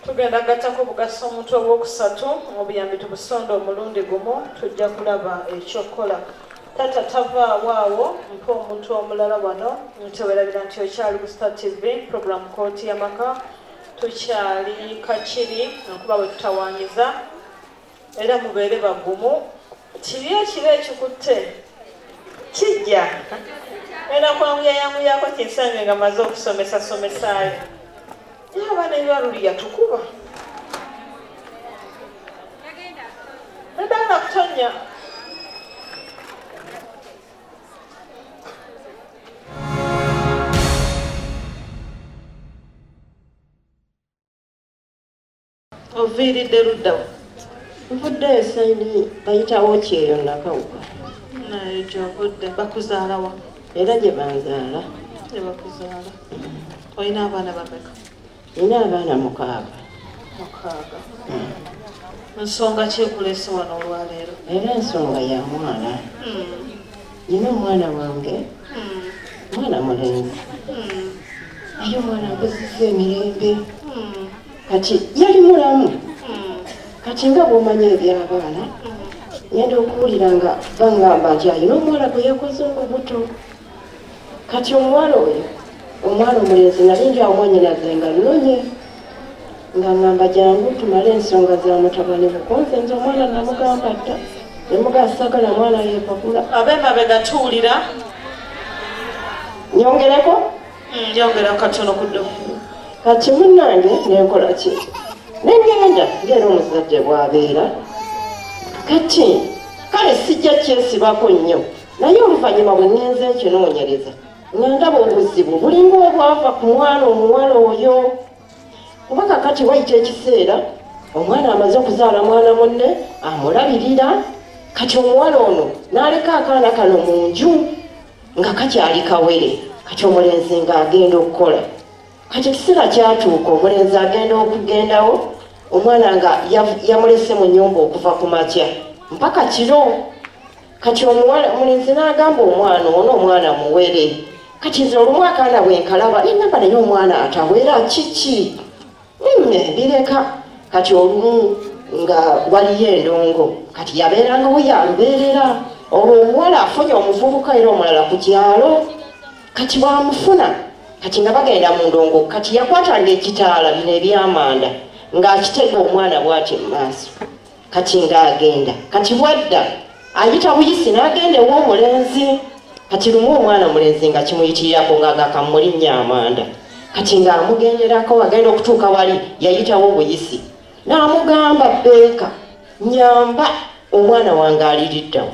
tugenda gattako bugasa omuntu ow'okusatu obuyambi tubusonda omulundi gumu tujja kulaba ekyokukola tata tavaawo awo mpa omuntu omulala wano ntewerabira nti okyali ku star tv program kooti yamaka tukyali kakiri nkuba bwe tutawanyiza era mubeere bagumu kibi ekiba ekikutte kijja era kwanguyayanguyako kinsange nga maze okusomesa somesaayo naye abaana ebibaluli yatukuba nadala kutonya oviiridde luddawa nvudde esayini bayitawo kyeyo nakawuka naye gyovudde bakuzaalawa era gye banzaala gye bakuzaala olina abaana bameka nina abaana mukaaga mukaaga hmm. nsonga kyekulese wano olwaleero era ensonga ya mwana hmm. nina omwana wange mwana mulenzi naye omwana nkoziza emirembe kati yali mulamu kati nga bwomanya ebyabaana ngenda okuwulira nga bangamba nti alina omuwala gwe yakoze olubuto kati omuwala oyo omwana omulenzi nali njaomwanyinaze nga nonye ng'angamba jangu tumale ensonga za mutabani bukonze nze omwana namugamba dda nemugasagala mwana yepakula abemabega tuwulira nyongereko mm, nyongera katono kudo kati munange nenkola ki nengenda ngaera omuzadde bwabeera kati kale sijja kyesibako nnyo naye oluvannyuma bwe ngenze nkinoonyereza nga ndaba obuzibu bulinga obwava ku mwana omuwala oyo kuba kakati wayita ekiseera omwana amaze okuzaala mwana munne amulabirira kati omuwala ono n'aleka akaana kano mu nju nga kakyali kawere kati omulenzi nga agenda okukola kati ekiseera kyatuuka omulenzi agenda okugendawo omwana nga yamulese mu nyumba okuva ku makya mpaka kiro kati omuwala omulenzi n'agamba omwana ono omwana muwere kati nze olumu akaana bwenkalaba nenamba naye omwana atawera kiki bireka hmm, kati olumu nga waliyo endongo kati yabeerangawo yalubeerera olwo omuwala afunye omuvubuka era omulala ku kyalo kati bwamufuna kati nga bagenda mu ndongo kati yakwatanga ekitaala bino ebyamanda ng'akitega omwana bwati mu maaso kati nga agenda kati bwadda ayita buyisi n'agenda ew'omulenzi kati lumu omwana mulenzi nga kimuyitirirako nga agakamulinnya amanda kati ng'amugenderako agenda okutuuka wali yayitawo buyisi n'amugamba beeka nyamba omwana wange aliriddawo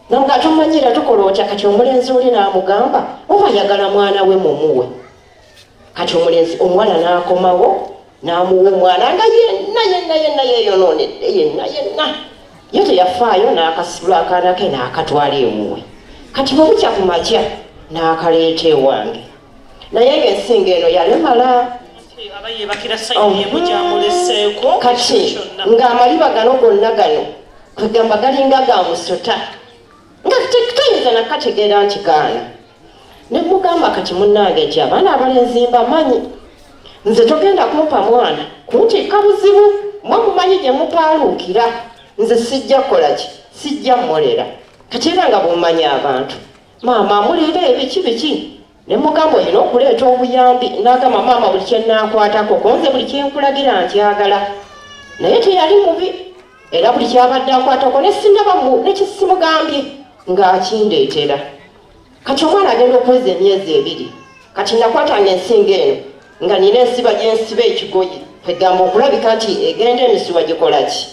namuga tomanyira tukola otya kati omulenzi oli n'amugamba oba yagala mwana we mumuwe kati omulenzi omuwala n'akomawo n'amuwa omwana nga yenna yenna yenna yeeyonoonedde yenna yenna ye teyafaayo n'akasibula akaana ke n'akatwala ewuwe kati bwe bukya ku makya n'akaleeta ewange naye ng'ensinga eno yalemala oh. kati ng'amaliba gano gonna gano kwegamba galinga ga musota nga tayinza nakategeera nti gaana ne mugamba kati munnange gye abaana abalenzi mbamanyi nze togenda kumpa mwana kuntiika buzibu mwe mumanyi gye mupaaluukira nze sijja kukola ki sijja mmolera kati era nga bw'omanyi abantu maama muleera ebiki biki ne mugamba olina okuleeta obuyambi n'agamba maama buli kye nnaakwatako konze buli kye nkulagira nkyagala naye teyali mubi era buli kyabadde akwatako ne sinaba ne kisimugambye ng'akindeetera kati omwana agenda okuweza emyezi ebiri kati nakwatanga ensinga eno nga nina ensiba gyensiba ekigoye kwegamba okulabika nti egenda emisiwa gikolaki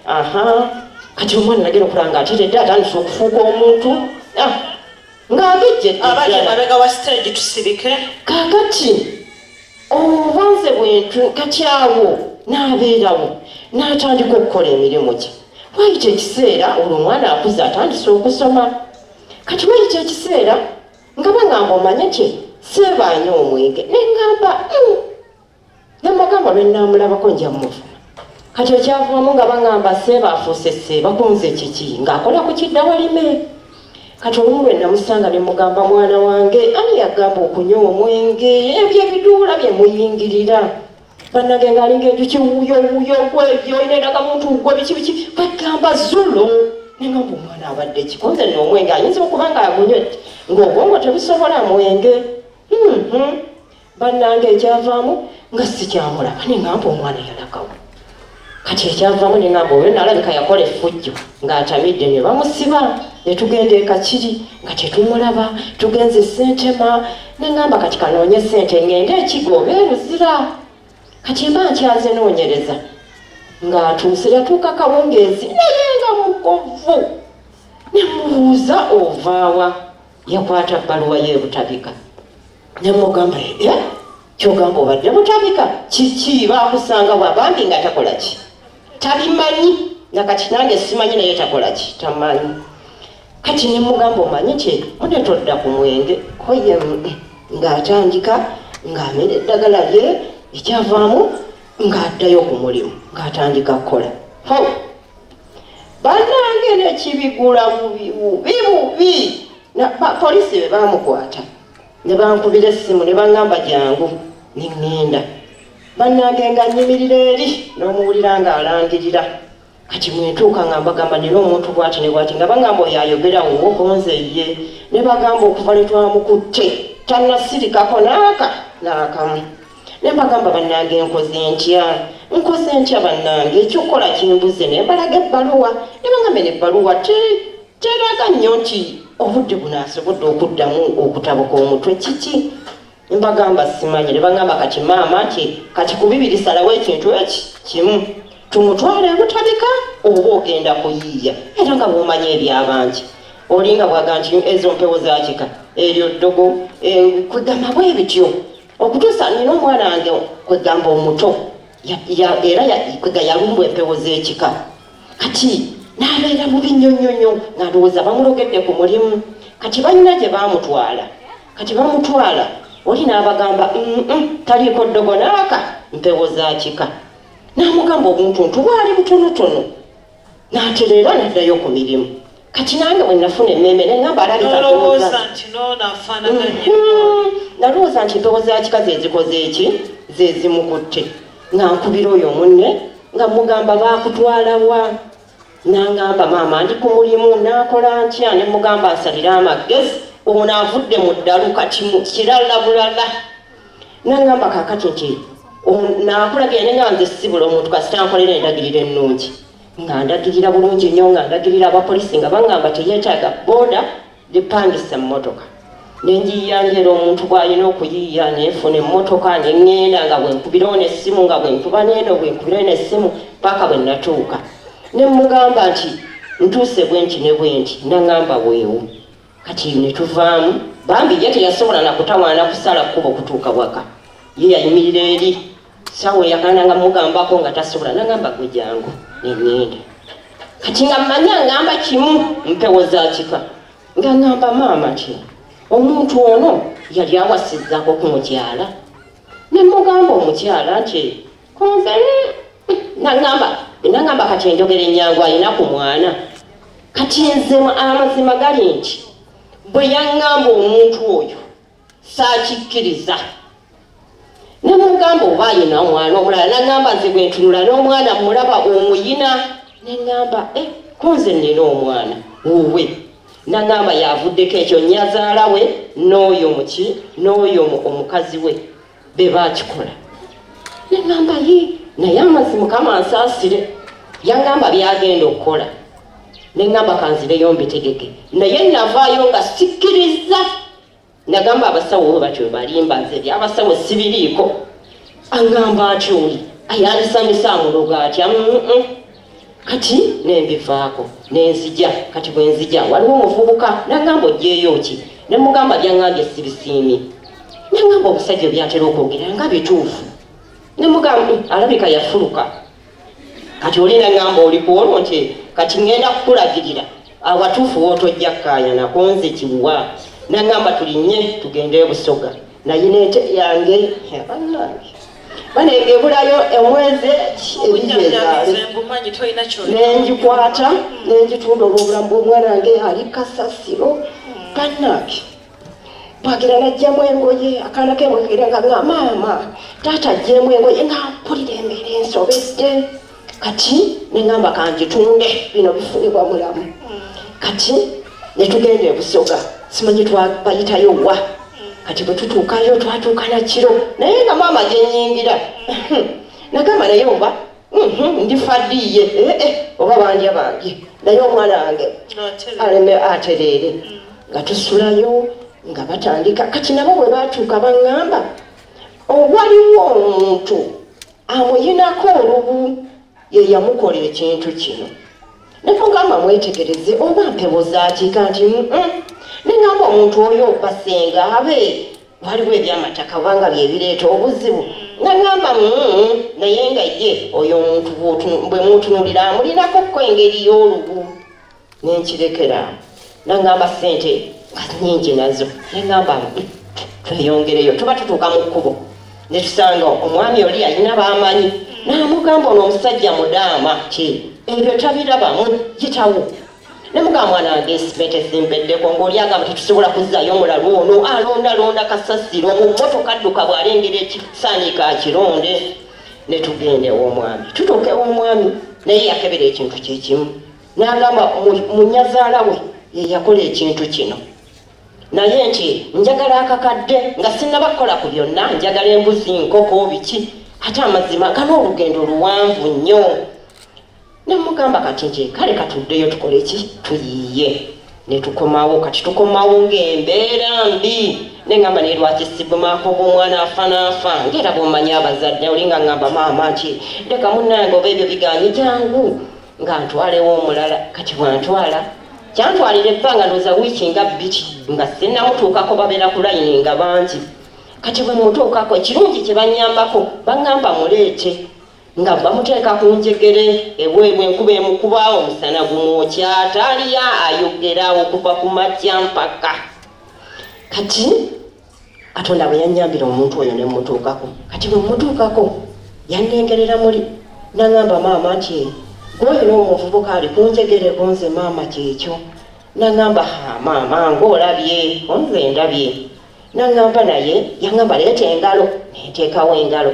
aha kati omwana nagenda okulaba nga ateredde atandisa okufuuka omuntu ah, nga agejje abali emabega wa stage tusirike kakati obubanze bwentu kati awo n'abeerawo n'atandika okukola emirimu gye wayita ekiseera olwo omwana akuze atandise okusoma kati wali kyekiseera nga bangamba omanye kye seebaanyo omwenge nengamba hmm. nembagamba lwenamulabako njamuvuma kati ekyavumamu nga bangamba seeba afuuse seeba kunze kiki ng'akola ku kidda walime kati olumu lwe namusanga ne mugamba mwana wange ani yagamba okunywa omwenge ebyo ebiduula bye muyingirira bannange ngaalinga enjuki wuyo wuyo gwegyo olina endaga muntu gwe biki biki kwegamba zulo naye nga omwana abadde kikonze nno omwenge ayinza okuba nga agunywedde ng'obwongo tebusobola mwenge hmm, hmm. bannange ekyavaamu nga sikyamulaba ne ngampa omwana yalagawo kati ekyavamu nengamba oyo nalabika yakola effujjo ng'atamidde ne bamusiba ne tugenda ekakiri nga tetumulaba tugenze sentema nengamba kati kanoonye sente ngende ekigo oba eruzira kati mba nkyaze noonyereza ng'atuuse yatuuka kawungeezi naye nga mukovu ne mubuuza ovaawa yakwata bbaluwa ye butabika nemugamba e kyogamba obadde butabika kiki bakusanga wabambi nga takola ki tabimanyi nakati nange simanyi naye takola ki tamanyi kati nemugamba omanyi kye mune todda ku mwenge koye ng'atandika ng'amera eddagala lye ekyavaamu ng'addayo ku mulimu ng'atandika kukola banange nekibigula bubi bubi polisi bebamukwata nebankubira essimu nebangamba jangu nengenda banange nga nyimirira eri nomuwulira nga alangirira kati mwentuuka nga mbagamba nina omuntu bwati nebwati nga bagamba oyo ayogera wuwo konze ye nebagamba okuva lwetwamukutte tanasirikako naaka naakamu ne mbagamba bannange nkoze ntya nkoze ntya bannange ekyokukola kimbuze ne mbalaga ebbaluwa ne bangamba ne ebbaluwa teraga nnyo nti obudde buno asobodde okuddamu okutabuka omutwe kiki mbagamba simanyi ne bangamba kati maama nti kati ku bibiri salawo ekintu eki kimu tumutwale ebutabika oba ogenda kuyiiya era nga bwomanyi ebyabangi olinga bwaga nti ezo mpewo zakika eryo ddogo eh, kugamba bwe bityo okutuusa nina omwana wange kwegamba omuto era kwega yalumbwa empewo z'ekika kati n'abeera mu binnyonnyonyo nga ndowooza bamulogedde ku mulimu kati balina gye baamutwala kati bamutwala oli n'abagamba taliiko ddogo naaka mpewo za kika n'amugamba obuntuntu bwali butonotono nanti leero naddayo ku mirimu kati nange bwenafuna emmeeme nengamba alabinalowooza mm-hmm. nti mpewo za kika zezikoze eki zezimukutte nga nkubira oyo munne nga mugamba bakutwalawa nangamba maama ndi ku mulimu nakola ntya ne mugamba asalire amagezi ono avudde mu ddalu kati kirala bulala nangamba kakati nti nakulagira naye nga nze sibula omuntu kasita nkolera endagiriro ennungi nga ndagirira bulungi nnyo nga ndagirira abapolisi nga bangamba teyetaaga boda lipangisa emmotoka nenjiyiya ngera omuntu bwalina okuyiiya nenfuna emmotoka nengenda nga bwenkubirawo nessimu nga bwenkuba neeno bwenkubirawo nessimu paka bwe natuuka nemugamba nti ntuuse bwenti ne bwenti nangamba weewo kati eyo ne tuvaamu bambi ye teyasobola na kutawaana kusala kkuba okutuuka waka ye yayimirira eri sawa eyakaana nga mugambako nga tasobola nagamba gwe jangu nengenda kati nga manya ngamba kimu mpewo za kika nga ngamba maama ti omuntu ono yali awasizaako ku mukyala ne mugamba omukyala nti kunze nangamba nangamba kati enjogera enyangu alina ku mwana kati nze amazima gali nti bwe yangamba omuntu oyo saakikkiriza nemugamba oba ayina omwana omulala nangamba nze bwe ntunula n'omwana mulaba omuyina nengamba e eh, kunze nina omwana wuwe nangamba yavuddeko ekyo nyazaala we n'oyo muki n'oyo omukazi we be baakikola ne ŋŋamba ye naye amazzi mukama ansaasire yaŋŋamba byagenda okukola ne ŋŋamba kanzireyo mbitegeke naye navaayo nga sikkirizza nagamba abasawo bo batyo balimba nze byabasawo sibiriiko aŋŋamba atyoli ayandisanyusa amuloga atya kati nembivaako nenzija kati bwenzija waliwo omuvubuka nangamba ojeeyo ki nemugamba byangambye sibisiimi nengamba omusajja byatera okwogera nga bituufu nemugamba eh, alabika yafuluka kati oli nengamba oli kuolwo nti kati ngenda kukulagirira awatuufu wotojja kukayana konze kiwa nengamba tulinye tugende ebusoga naye nente yange bane ebulayo omwezi nenjikwata nenjitunda olwobulamu bwomwana wange ali kasasiro banange bwagira najjamu engoye akaana kemwegera nga nga maama taata ajjemu engoye nga mpulira embeera ensobedde kati nengamba kanjitunde bino bifuibwa mulamu kati netugenda ebusoga simanyi twabayitayo wa kati bwetutuukayo twatuuka nakiro naye nga maama gyenyingira nagamba naye oba mhm, ndifadiiye eh, eh, oba bandya bambye naye omwana wange aleme atereere mm. nga tusulayo nga batandika kati nabo bwe batuuka baŋŋamba owaliwo omuntu amuyinako olubu ye yamukola ekintu kino nemugamba mwetegereze oba mpewo zakiika nti nengamba omuntu oyo basenga abe waliwo ebyamataka obanga byebireeta obuzibu nagamba naye nga ye oyo omuntu bwemutunulira amulinako ko engeri y'olubu nenkirekera nangamba sente nyingi nazo nengamba tweyongereyo tuba tutuuka mu kkubo netusanga omwami oli alina bamanyi namugamba ono omusajja mudaama ti ebyo tabirabamu yitawo nemugamba mwana wange sente zimbeddeko ngaoli agamba tetusobola kuzayo mulalu ono alondalonda kasasiro mu motoka dduka bwalengera ekisanika akironde netugenda ewomwami tutuuka ewomwami naye yakebera ekintu kyekimu n'agamba munyazaala we yeyakola ekintu kino naye nti njagala akakadde nga sinaba kukola ku byonna njagala embuzi nkoko biki ate amazima gana olugendo luwanvu nnyo nemugamba kati nti kale katuddeyo tukole ki tuyiiye netukomawo kati tukomawo ngaembeera mbi nengamba naye lwaki sibumako bwomwana afanaafa ngaera bwomanyi abazadde olinga ngamba maama nti leka munange oba ebyo biganyi jangu nga ntwalewo omulala kati bwantwala kyantwalira ebbanga ndooza wiiki nga bbiri nga sinnamutuukako babeera ku layini nga bangi kati bwe mutuukako ekirungi kye bannyambako baŋŋamba muleete nga bamuteeka ku njegere eweebwa enkuba emukuba omusana gumwokya taaliya ayogera okuva ku makya mpaka kati katonda bwe yannyambira omuntu oyo ne mmutuukako kati bwe mmutuukako yannengerera muli naŋamba maama nti gwoyo n'omuvubuka ali kunjegere kunze maama kyekyo naŋamba ha maama ngaolabye onze ndabye naŋamba naye yaŋamba leeta engalo nenteekawo engalo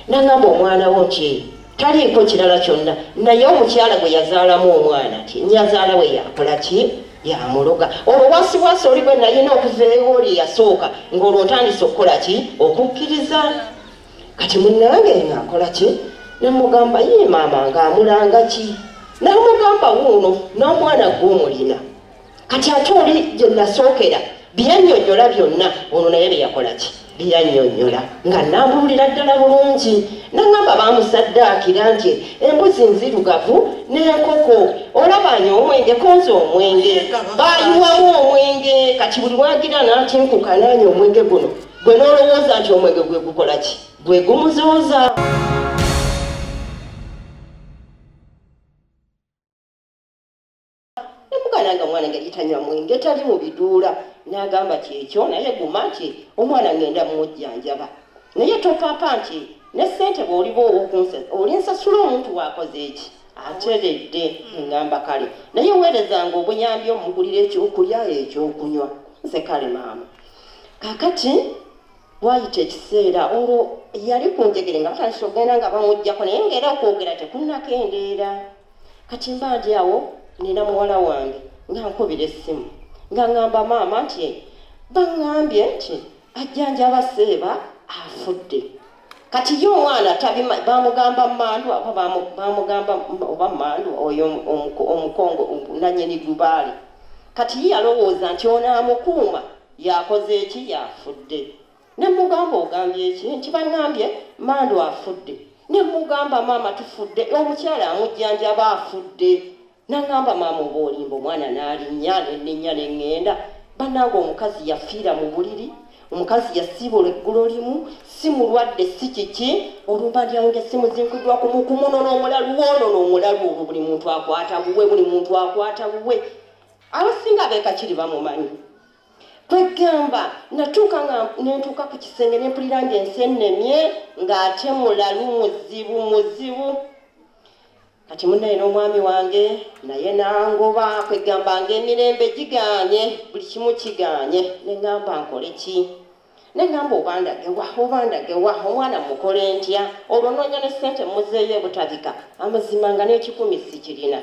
nangamba omwana wo nti taliiko kirala kyonna naye omukyala gwe yazaalamu omwana ti nyazaala we yakola ki yamuloga olwo wasibwasi oli bwe nayina okuzeewo oli yasooka ngaolwo ntandise okukola ki okukkiriza kati munange ngaakola ki namugamba ye maama ngaamulanga ki namugamba wuuno n'omwana gwe omulina kati ate oli gye nasookera byanyonyola byonna ono naye byeyakola ki byeyanyonyola nga nambuulira ddala bulungi nangamba bamusaddaakira nti embuzi nzirugavu n'enkoko olabanya omwenge konza omwenge bayiwamu omwenge kati buli wagira natinkuka nanya omwenge guno gwe n'olowooza nti omwenge gwe gukola ki gwe gumuzuuza nemugana nga omwana yali tanywa mwenge tali mu biduula n'agamba kyekyo naye guma nti omwana ngenda mumujjanjaba naye topapa nti ne ssente bw'oliba owokunsa olinsasula omuntu waakoze eki ateredde engamba kale naye weerezanga obuyambi omugulira ekyokulya ekyokunywa nze kale maama kakati wayita ekiseera olwo yali ku njegere nga batandisa okugenda nga bamugjako naye ngaera okwogera tekunakendeera kati mba ndi awo nina muwala wange nga nkubira essimu nga ŋŋamba maama nti baŋŋambye nti ajjanjaba seeba afudde kati ye omwana bamugamba mandu aba bamugamba oba mandu oyo omukongo nanyini dubaale kati ye yalowooza nti onaamukuuma yakoze eki yafudde nemugamba ogambye eki nti bangambye mando afudde nemugamba maama tufudde omukyala amujjanjaba afudde nangamba maama oba olimba omwana nalinya nenenya nengenda banange omukazi yafiira mu buliri omukazi yasiibula eggulo limu si mulwadde si kiki olumba ndyange simuzinkudwa kumukumunona omulalu wonono omulalu olwo buli muntu akwata buwe buli muntu akwata buwe abasinga abekakiri bamumanyi kwegamba natuuka nga nentuuka ku kisenge nempulira nga ensi ennemye ng'ate mulalu muzibu muzibu kati munaye n'omwami wange naye nangoba kwegamba nga emirembe giganye buli kimu kiganye nengamba nkole ki Nengamba obandage wa obandage wa omwana mukole ntya olwo nonya ne sente muzeeyo ebutabika amazima nga n'ekikumi sikirina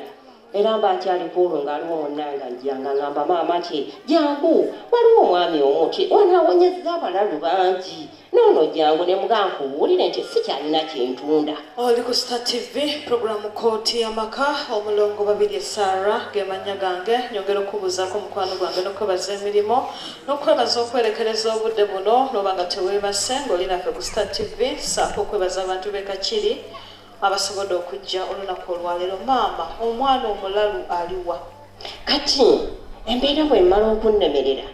era mba nkyali kwolwo nga aliwo munanga njja nga ngamba maama ti jangu waliwo omwami omu ti ono awonyezza abalalu bangi noono jangu ne mugaa nkubuulire nti sikyalina kyentunda oli ku star tv programu kooti y'amaka omulongo babiri esaara ge mannya gange nyongera okubuuzaako omukwano gwange n'okwebaza emirimu n'okwebaza okwerekereza obudde buno n'oba nga teweebase ng'oli naffe ku star tv saako okwebaza abantu be kakiri abasobodde okujja olunaku olwaleero maama omwana omulalu aliwa kati embeera bwemala okunnemerera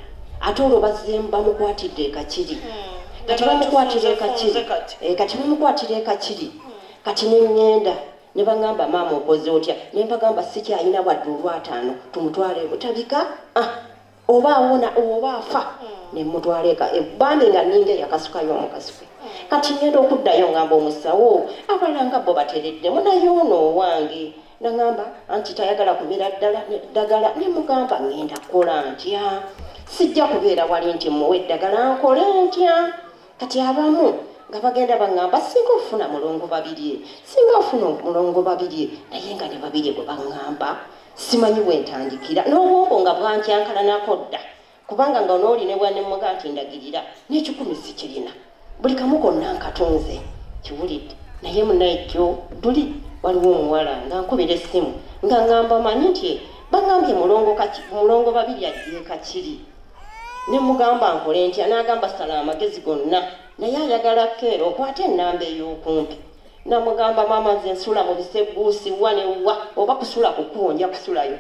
ate olwo bazemu bamukwatidde ekakiri hmm. kati bamukwatira ekakiri eh, kati bamukwatira ekakiri hmm. kati neŋŋenda ne baŋŋamba maama okoze otya ne mpagamba sikyalina wadde olwataano tumutwale butabika ah. oba awona oba afa nemutwala eka e, bambi nga ninga eyakasukayo omukasuke kati ngenda okuddayo ngamba omusawo abala nga bo batereddemu naye ono owange nangamba anti tayagala kumira ddala ddagala nemugamba ngenda kukola ntya sijja kubeera wali nti muwa eddagala nkole ntya Kati abamu nga bagenda baŋŋamba singa ofuna mulongo babirye singa ofuna omulongo babirye naye nga ne babirye bwe baŋŋamba simanyi wentandikira n'obwongo nga bwankyankalanako dda kubanga nga onooli ne bwanemmuga nti ndagirira n'ekikumi sikirina buli kamu konna nkatunze kiwulidde naye munaye jjo luli waliwo omuwala nga nkubira essimu nga ŋŋamba manyi nti baŋŋambye mulongo babirye ajjeekakiri ne mugamba nkole ntya n'agamba sala amagezi gonna naye ayagala keera okwata ennamba ey'okumpi namugamba maama nze nsula mu biseguusi wa ne wa oba kusula kukuwo nja kusulayo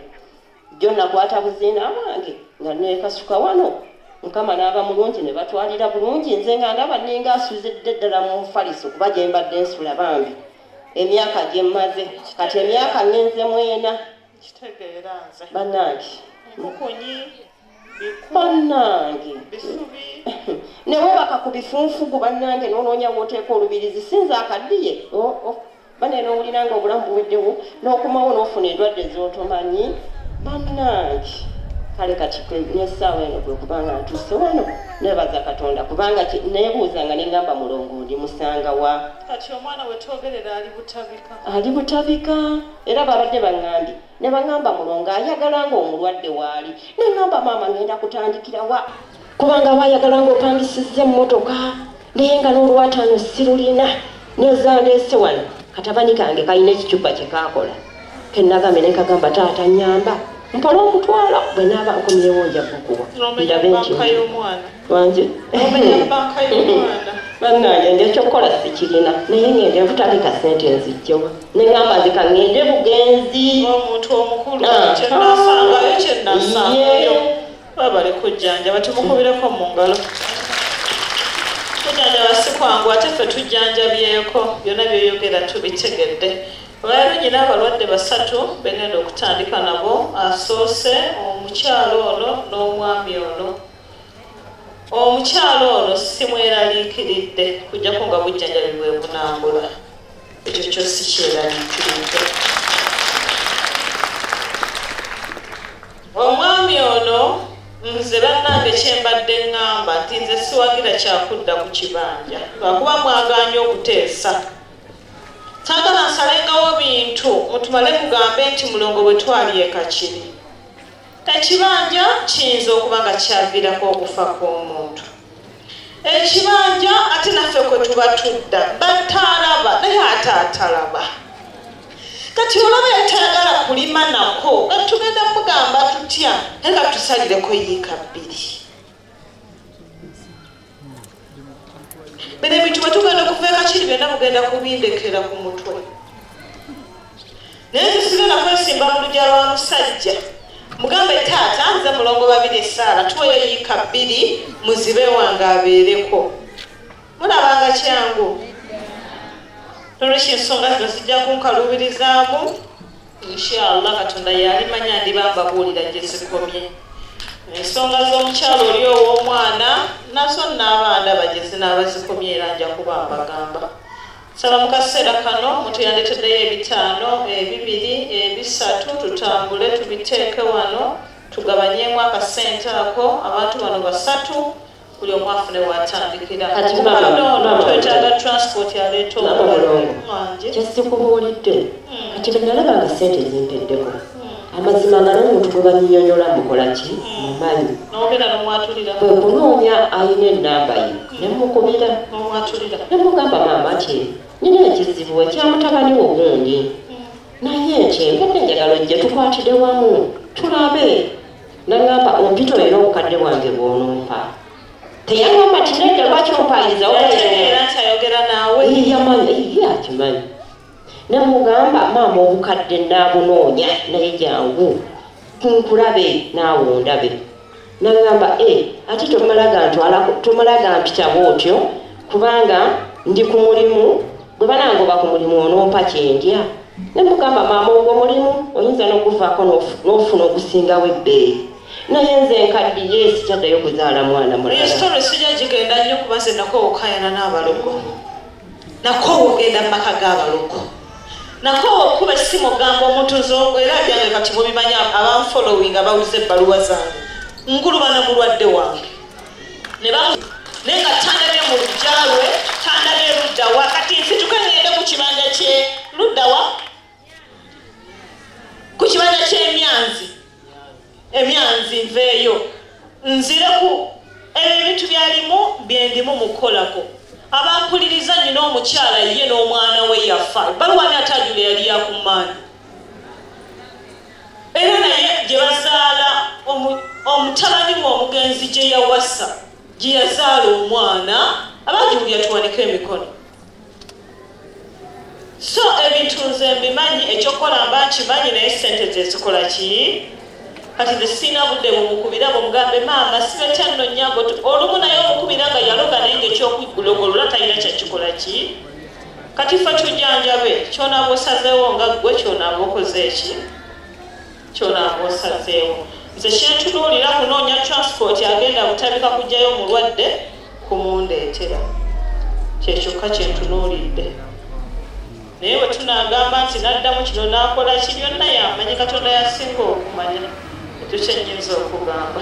jjo nakwata buziina wange nga nekasuka wano mukama n'aba mulungi ne batwalira bulungi nze nga ndaba ninga asuzidde ddala mu mufaliso kuba gye mbadde nsula bambi emyaka gye mmaze kati emyaka ngenze mwena banange bannange ne webaka ku bifunfugu bannange nononya woteeka olubirizi sinza akaddiye oh, oh. bane nowulira nga obulamu buweddewo n'okomawo n'ofuna endwadde z'otomanyi bannange kale kati nesaawa eno kwekubanga ntuuse wano nebaza katonda kubanga nebuuza nga nengamba mulongo ndi musanga wa ali butabika era babadde baŋambye ne bangamba mulongo ayagala nga omulwadde waali ne ngamba maama ngenda kutandikira wa kubanga bayagala nga opangisizza emmotoka naye nga n'olwataano sirulina nezandeese wano katabani kange kalina ekicupa kye kaakola kenagambe ne kagamba taata nyamba mpola okutwala bwe naaba nkomyewo nja kukuwa ndabe nti wangi bannange nja ekyokukola sikirina naye ngende okutandika sente nzijjewa neŋamba nze kaŋŋende bugenzi omuntu omukulu ah, kyenasangayo ah. kyenasangayo babale kujjanjaba tumukubireko mu ngalo kujjanjaba si kwangu ate ffe tujjanjabyeko byonna byoyogera tubitegedde olwalero nyina abalwadde basatu begenda okutandika nabo asoose omukyalo ono n'omwami ono omukyalo ono simweraliikiridde kujjako nga bujjanjabi bwe bunambula ekyo kyo sikyeraliikiridde omwami ono nze bannange kyembadde ŋŋamba nti nze siwagira kyakudda ku kibanja lwakuba mwagaanye okuteesa sagala nsalengawo bintu mutumale mugambe nti mulongo bwe twali ekakiri Ekibanja kiyinza okuba nga kyaviirako okufa kw'omuntu ekibanja ate naffe kwe tuba tudda batalaba naye ate atalaba kati olaba yatayagala kulima nako nga tugenda mugamba tutya naye nga tusalireko yiika bbiri bino ebintu bwe tugenda okuva ekakiri byonna mugenda kubindekera ku mutwe naye tusigenda kwesimba mu lugya lwa musajja mugambe taata nze mulongo babiri esaala tuweyo yiika bbiri muzibe wange abeereko mulabanga kyangu nolwekyo ensonga zino zijja kunkaluubirizaamu inshallah katonda yalimanya ndiba mbabuulira gye zikomye ensonga z'omukyalo oli ow'omwana nazo naabaandaba gye zinaaba zikomye era nja kuba mbagamba saba mu kaseera kano omuntu yandeeteddeyo ebitaano ebibiri ebisatu tutambule tubiteeke wano tugabanyemu akasente ako abantu bano basatu buli omu afune watandikira kati mama mama twetaaga transport aleeta omulongo kyesikubuulidde hmm. kati bwenalaba nga sente zimpeddeko hmm. amazima nga n'omuntu gwe banyinyonyola mukola ki mumanyi hmm. bwe kunoonya alina enamba ye ne mukubira ne mugamba maama ki nina ekizibu ekyamutabani wo gundi naye ekyo enkedde enjagalo gye tukwatide wamu tulabe Nangamba ompita olina obukadde bwange bw'onompa. Teyangamba nti nedda lwaki ompangiza era nti ayogera naawe. Yamanyi ye akimanyi. Namugamba maama obukadde nnaabunoonya naye jangu nkulabe naawe ondabe. Nangamba e eh, ate tomala gantwala tomala gampita bw'otyo kubanga ndi ku mulimu Bwe banangoba ku mulimu onompa kye ndya? Ne mugamba maama ogwo mulimu oyinza n'okuvaako n'ofuna ogusingawo ebbeeyi. Naye nze nkaddiye sikyaddayo kuzaala mwana mulala. Eyo sitolo sijja gigenda nnyo kuba nze nakoowa okukayana n'abalogo. Nakoowa ogenda mu maka g'abalogo. Nakoowa okukuba essimu ogamba omuntu nze era byange kati mubimanyi abanfolowinga abawuliza ebbaluwa zange. Ngulubana mulwadde wange. naye nga tandabye mu lujja lwe tandabye luddawa kati nsituke ngende ku kibanja kye luddawa ku kibanja ky'emyanzi emyanzi nveeyo nzire ku ebyo ebintu byalimu byendimu mu kukolako abampuliriza nyina omukyala ye n'omwana we yafa baluwani atajula yali yakumaanyi era naye gye bazaala omutabani we omugenzi gye yawasa gye yazaala omwana abagiwulya tuwanike emikono so ebintu nze mbimanyi ekyokukola mba nkimanyi naye sente zezikola ki kati nze siina budde bumukubira bumugambe maama sibetya nno nyago olumu naye omukubira nga yaloga naye nga ekyokuggulogolola talina kyakikola ki Kati ffe tujjanjabe ky'onaaba osazeewo nga ggwe ky'onaaba okoze eki ky'onaaba osazeewo nze kyentunuulira kunoonya transport agenda butabika kujjayo mulwadde kumundeetera kyekyokka kyentunuulidde naye bwe tunaagamba nti n'addamu kino n'akola ki byonna yamanyi katonda yasinga okumanya ekyo kyennyinza okugamba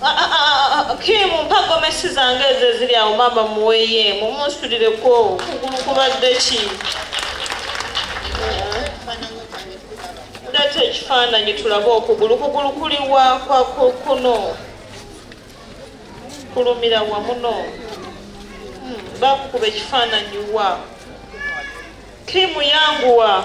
Ah, ah, ah, ah, kimu mpa gomesi zange ezo eziri awo maama muweye mumunsulireko kugulu kubadde ki leeta ekifaananyi tulabe okugulu kugulu kuli wakwa kuno kulumira wamuno hmm, bakukuba ekifaananyi wa kimu yanguwa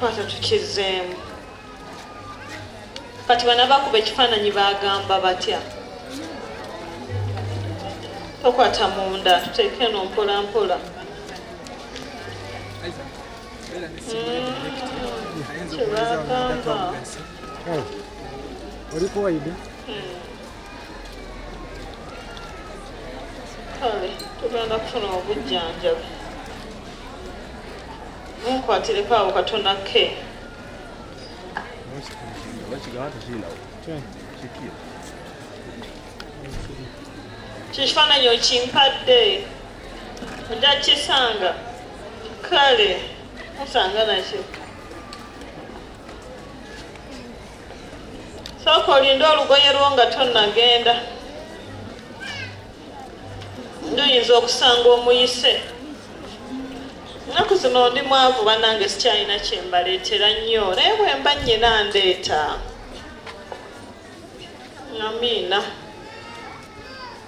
kwata tukizeemu kati bana bakuba ekifaananyi bagamba batya tokwata munda tuteeke no mpola mpola kyebagamba hmm. hmm. olikuwaide hmm. kale tugenda kufuna obujjanjabi munkwatireko awo katona ke kyekifaananyi okimpadde nja kisanga kale musanga nakyo sooka olinde olugoye lwo nga tonnagenda nduyinza okusanga omuyise nnaku zino ndi mwavu banange sikyalina kyembaleetera nnyo naye bwemba nnyina ndeeta amiina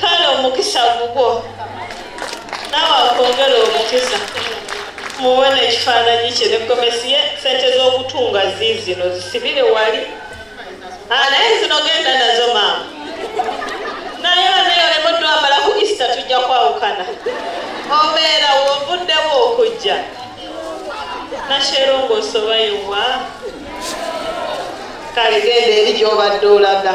kale omukisa gugwo naawe akwongere omukisa muwe nekifaananyi kye negomesi ye sente z'okutunga ziizino zisibire wali ah, naye zino genda nazo maama naye baneyo nemuddu amala ku easter tujja kwawukana obeera wovuddewo okujja nasherongo osobayiwa kale genda eri gyobadde olaga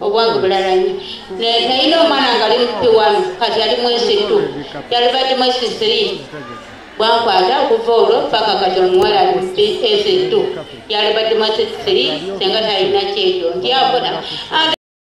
obwange bulalanyi nayina omwana nga ali mupi wami kati ali mwezi tu yalibadde mwezi three bwankwata okuva olwo paka kati omuwala ali mupi ezi tu yalibadde mwezi three senga talina kyejo ndyafuna